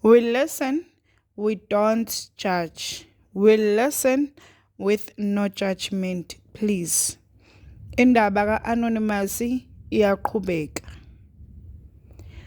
We listen, we don't judge. We listen with no judgment, please. Indaba ka-Anonymous iyaqhubeka.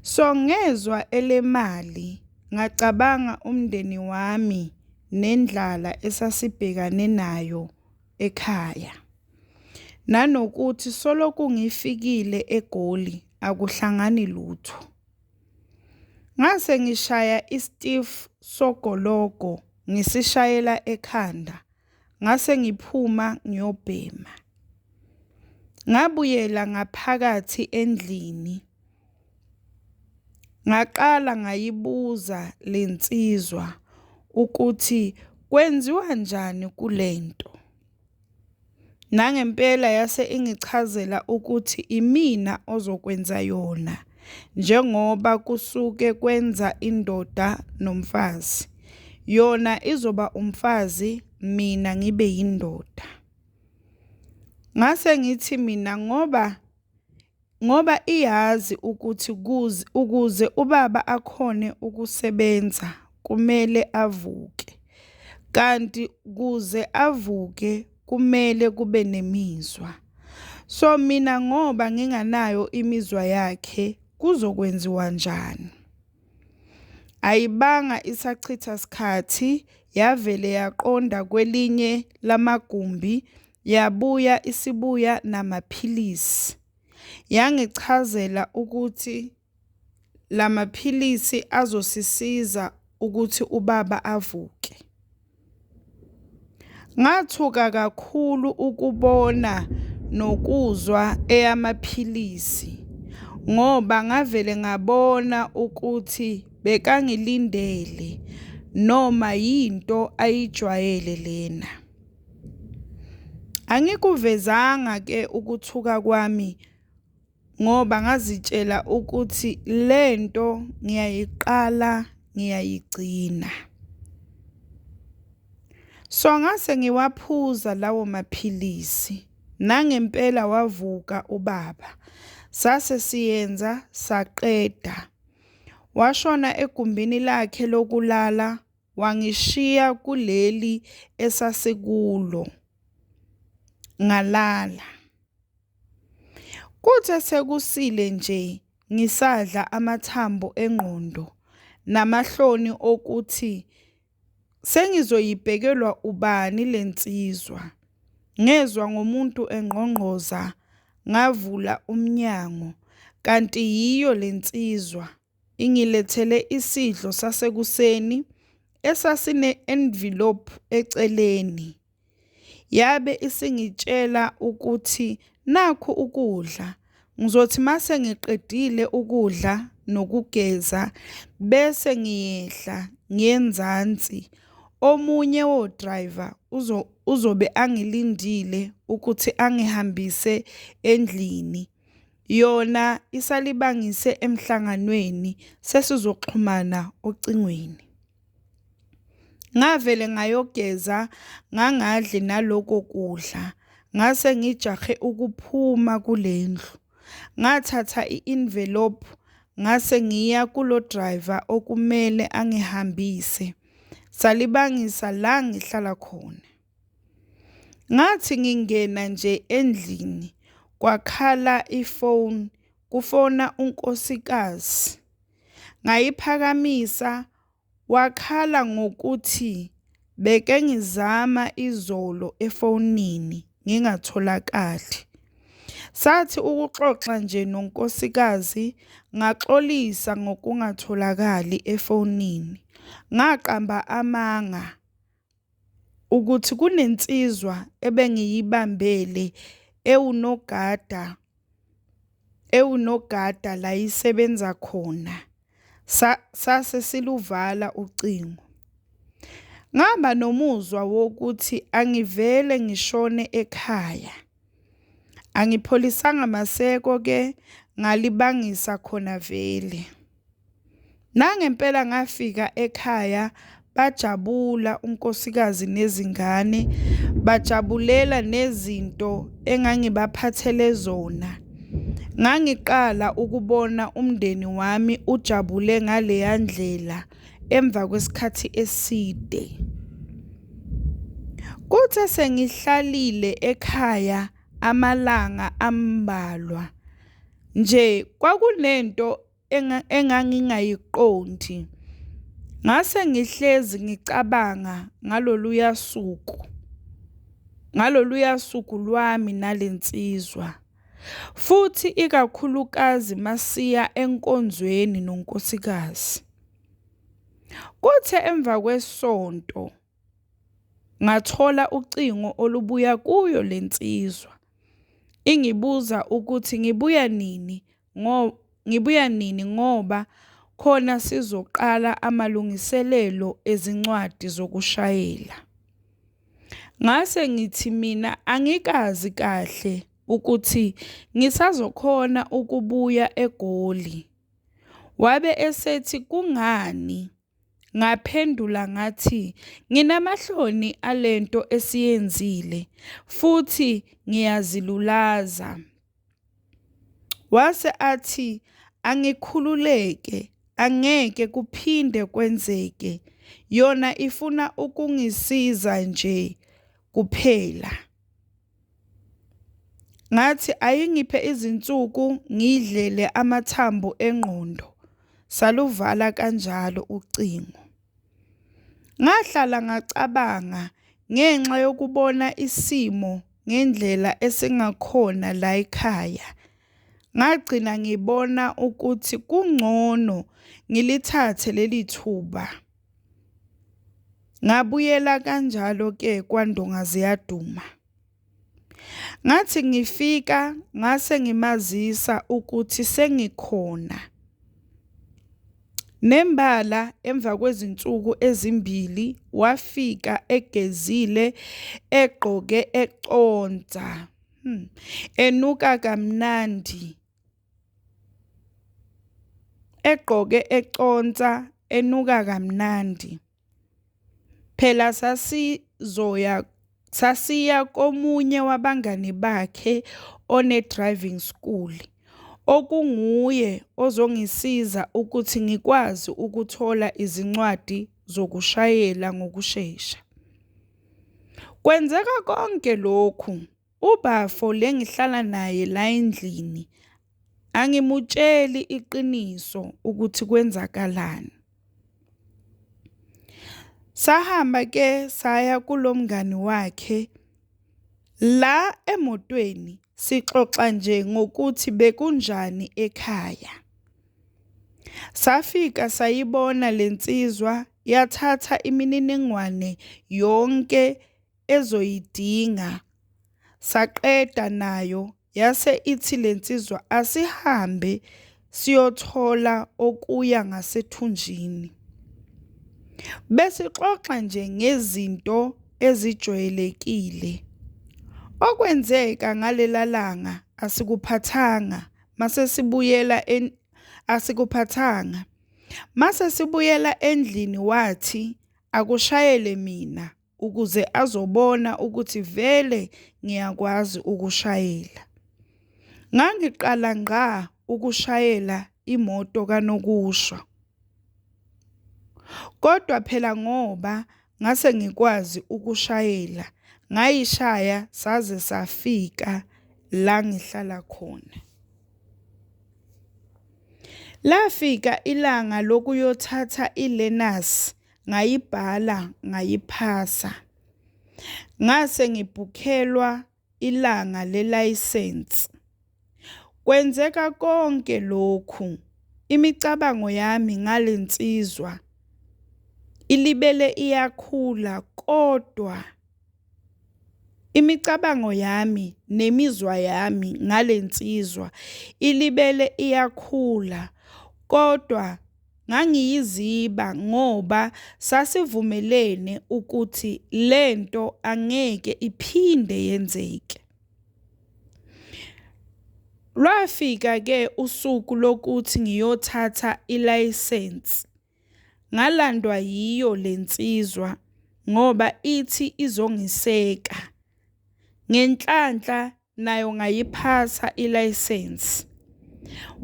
So ngezwa elemali ngacabanga umndeni wami nendlala esasibhekane nayo ekhaya. Nanokuthi soloku ngifikile eGoli akuhlangani lutho. Ngase ngishaya iStiff sogologo ngisishayela ekhanda ngase ngiphuma ngiyobhema. Ngabuyela ngaphakathi endlini ngaqala ngayibuza le nsizwa ukuthi kwenziwa njani kule nto. Nangempela yase ingichazela ukuthi imina ozokwenza yona njengoba kusuke kwenza indoda nomfazi. Yona izoba umfazi mina ngibe yindoda. Ngase ngithi mina ngoba ngoba iyazi ukuthi ukuze ubaba akhone ukusebenza kumele avuke kanti kuze avuke kumele kube nemizwa so mina ngoba nginganayo imizwa yakhe kuzokwenziwa njani ayibanga isachitha sikhathi yavele yaqonda kwelinye lamagumbi Yabuya isibuya namaphilisi. Yangichazela ukuthi la maphilisi azosisiza ukuthi ubaba avuke. Ngathuka kakhulu ukubona nokuzwa eyamaphilisi ngoba ngavele ngabona ukuthi bekangilindele noma yinto ayijwayele lena. Angikuvezanga ke ukuthuka kwami ngoba ngazitshela ukuthi le nto ngiyayiqala ngiyayigcina. So ngase ngiwaphuza lawo maphilisi nangempela wavuka ubaba. Sase siyenza saqeda. Washona egumbini lakhe lokulala Wangishiya kuleli esasikulo, ngalala. Kuthe sekusile nje ngisadla amathambo engqondo namahloni okuthi sengizoyibhekelwa ubani le nsizwa, ngezwa ngomuntu engqongqoza ngavula umnyango kanti yiyo le nsizwa Ingilethele isidlo sasekuseni esasine-envelope eceleni. Yabe isingitshela ukuthi nakhu ukudla. Ngizothi mase ngiqedile ukudla nokugeza bese ngiyehla ngenzansi. Omunye wo-driver uzobe angilindile ukuthi angihambise endlini. Yona isalibangise emhlanganweni sesizoxhumana ocingweni. Ngavele ngayogeza ngangadli naloko kudla ngase ngijahe ukuphuma kulendlu. Ngathatha i-envelope ngase ngiya kulo driver okumele angihambise. Salibangisa la ngihlala khona. Ngathi ngingena nje endlini kwakhala ifoni kufona unkosikazi. Ngayiphakamisa wakhala ngokuthi beke ngizama izolo efonini ngingatholakali. Sathi ukuxoxa nje nonkosikazi ngaxolisa ngokungatholakali efonini, ngaqamba amanga ukuthi kunensizwa ebengiyibambele ewunogada ewunogada la isebenza khona sase siluvala ucingo ngaba nomuzwa wokuthi angivele ngishone ekhaya angipholisanga maseko ke ngalibangisa khona vele Nangempela ngafika ekhaya bajabula unkosikazi nezingane, bajabulela nezinto engangibaphathele zona. Ngangiqala ukubona umndeni wami ujabule ngaleya ndlela emva kwesikhathi eside. Kuthe sengihlalile ekhaya amalanga ambalwa. Nje kwakunento engangingayiqondi. Ngase ngihlezi ngicabanga ngaloluya suku, ngaloluya suku lwami nale nsizwa, futhi ikakhulukazi masiya enkonzweni nonkosikazi. Kuthe emva kwesonto. ngathola ucingo olubuya kuyo le nsizwa ingibuza ukuthi ngibuya nini ngo ngibuya nini ngoba khona sizoqala amalungiselelo ezincwadi zokushayela. Ngase ngithi mina angikazi kahle ukuthi ngisazokhona ukubuya eGoli, wabe esethi kungani? Ngaphendula ngathi, Nginamahloni ale nto esiyenzile futhi ngiyazilulaza. Wase athi, Angikhululeke, angeke kuphinde kwenzeke. Yona ifuna ukungisiza nje kuphela. Ngathi ayingiphe izinsuku ngidlele amathambo engqondo. Saluvala kanjalo ucingo. Ngahlala ngacabanga ngenxa yokubona isimo ngendlela esingakhona la ekhaya. Ngagcina ngibona ukuthi kungcono ngilithathe leli thuba. Ngabuyela kanjalo-ke kwaNdonga Ziyaduma. Ngathi ngifika ngase ngimazisa ukuthi sengikhona. Nembala emva kwezinsuku ezimbili wafika egezile egqoke econsa, hmm, enuka kamnandi. egqoke econsa enuka kamnandi phela sasizoya sasiya komunye wabangani bakhe one-driving school okunguye ozongisiza ukuthi ngikwazi ukuthola izincwadi zokushayela ngokushesha. Kwenzeka konke lokhu Ubafo le ngihlala naye la endlini angimutsheli iqiniso ukuthi kwenzakalani. Sahamba ke saya kulomngani wakhe la emotweni sixoxa nje ngokuthi bekunjani ekhaya. Safika sayibona lensizwa yathatha imininingwane yonke ezoyidinga saqeda nayo yase ithi lensizwa asihambe siyothola okuya ngasethunjini besixoxa nje ngezinto ezijwayelekile okwenzeka ngalelalanga asikuphathanga mase sibuyela asikuphathanga mase sibuyela endlini wathi akushayele mina ukuze azobona ukuthi vele ngiyakwazi ukushayela. Ngangiqala ngqa ukushayela imoto kanokusho. Kodwa phela ngoba ngase ngikwazi ukushayela ngayishaya saze safika la ngihlala khona. Lafika ilanga lokuyothatha i-learners. ngayibhala ngayiphasa. Ngase ngibhukhelwa ilanga lelayisensi. Kwenzeka konke lokhu imicabango yami ngale nsizwa ilibele iyakhula kodwa imicabango yami nemizwa yami ngale nsizwa ilibele iyakhula kodwa Ngangiyiziba ngoba sasivumelene ukuthi le nto angeke iphinde yenzeke. Lwafika-ke usuku lokuthi ngiyothatha ilayisensi, ngalandwa yiyo le nsizwa ngoba ithi izongiseka. Ngenhlanhla naye ungayiphatha ilayisensi.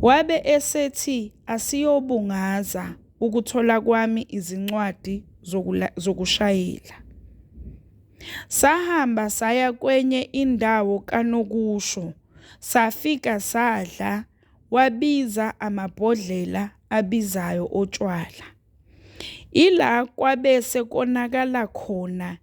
Wabe esethi asiyobungaza ukuthola kwami izincwadi zokushayela. Sahamba saya kwenye indawo kanokusho, safika sadla, wabiza amabhodlela abizayo otshwala. Ila kwabese konakala khona